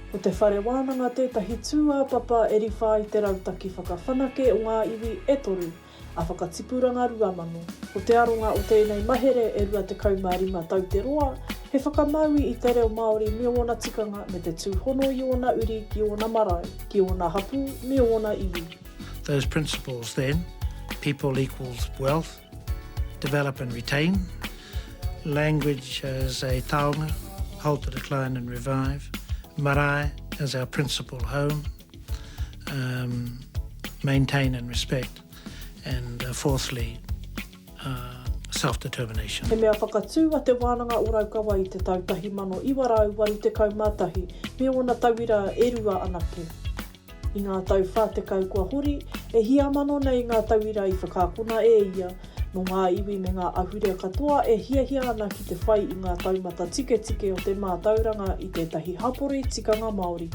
Ko te Whare Wānanga tētahi tūāpapa e riwha i te Rautaki Whakawhanake o ngā Iwi e Toru a Whakatipuranga Rua Mano. Ko te aronga o tēnei mahere e 25 tau te roa, he whakamaui i te reo Māori me ōna tikanga me te tūhono i ōna uri ki ōna marae, ki ōna hapū me ōna iwi. Those principles then, people equals wealth, Develop and retain Language as a taonga Halt the decline and revive Marae as our principal home um, Maintain and respect And uh, fourthly uh, self-determination. He mea whakatū a Te Wānanga o Raukawa i te tau 1981 me ōna tauira e rua anake. I ngā tau wha tekau kua hori, e hia mano nei ngā tauira i whakaakona e ia, nō ngā iwi me ngā ahurea katoa e hiahia ana ki te whai i ngā taumata tiketike o te mātauranga i tētahi hapori tikanga Māori.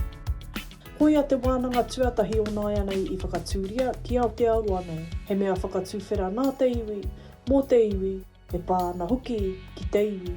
Koia te wānanga tuatahi o nāianei i whakatūria ki Aotearoa nei, he mea whakatuwhera nā te iwi, mō te iwi, e pā ana hoki ki te iwi.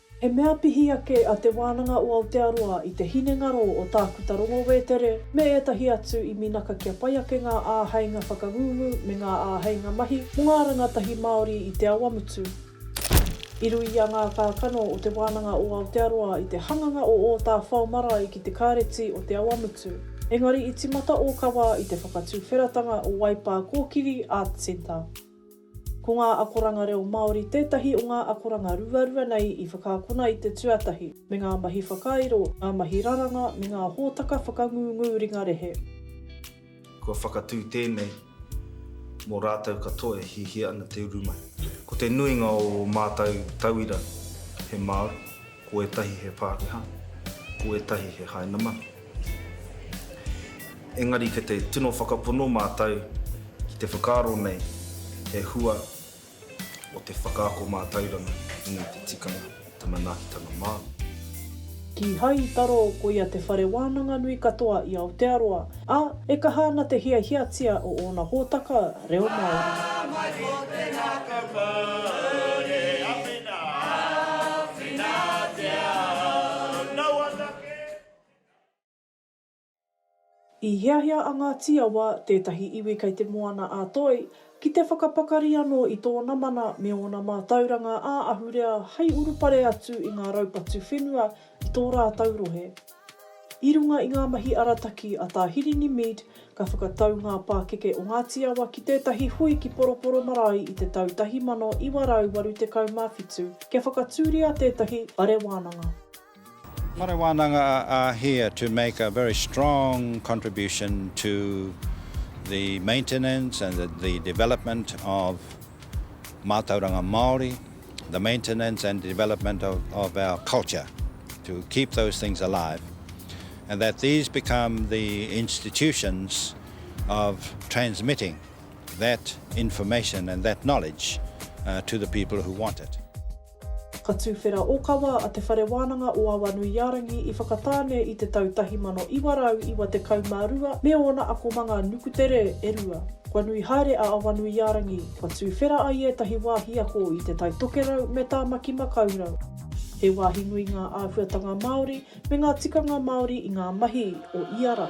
He mea pihi ake a Te Wānanga o Aotearoa i te hinengaro o Tākuta Rongo Wētere me ētahi atu i minaka kia pai ake ngā āheinga whakangungu me ngā āheinga mahi mō ngā rangatahi Māori i Te Awamutu. I ruia ngā kākano o Te Wānanga o Aotearoa i te hanganga o Ōtāwhao marae ki te Kāreti o Te Awamutu, engari i timata ōkawa i te whakatuwheratanga o Waipā Kōkiri Arts Centre. Ko ngā akoranga reo Māori tētahi o ngā akoranga ruarua nei i whakaakona i te tuatahi me ngā mahi whakairo, ngā mahi raranga me ngā hōtaka whakangūngū ringa rehe. Kua whakatū tēnei mō rātou katoa e hiahia ana te uru mai. Ko te nuinga o ō mātou tauira he Māori. Ko ētahi he Pākehā, ko ētahi he Hainaman. Engari kei te tino whakapono mātou ki te whakaaro nei he hua o te whakaako mātauranga i ngā te tikanga i te manaakitanga Māori. Kīhai i taro koia te whare wānanga nui katoa i Aotearoa. ā, e kaha ana te hiahiatia o ōna hōtaka reo Māori. I hiahia a Ngāti Awa, tētahi iwi kei Te Moana-a-Toi, ki te whakapakari anō i tōna mana me ōna mātauranga ā-ahurea hei urupare atu i ngā raupatu whenua i tō rātou rohe. I runga i ngā mahi arataki a Tā Hirini Mead, ka whakatau ngā pākeke o Ngāti Awa ki tētahi hui ki Poroporo Marae i te tau 1987 kia whakatūria tētahi whare wānanga. Whare wānanga a Ahia to make a very strong contribution to the maintenance and the development of mātauranga Māori. the maintenance and development of of our culture to keep those things alive and that these become the institutions of transmitting that information and that knowledge uh, to the people who want it. Ka tūwhera okawa a Te Whare Wānanga o Awanuiārangi i Whakatāne i te tau 1992 me ōna akomanga nukutere e rua. Kua nui haere a Awanuiārangi, Kua tūwhera ai ētahi wāhi ako i Te Tai Tokerau me Tāmaki Makaurau. He wāhi nui ngā āhuatanga Māori me ngā tikanga Māori i ngā mahi o ia rā.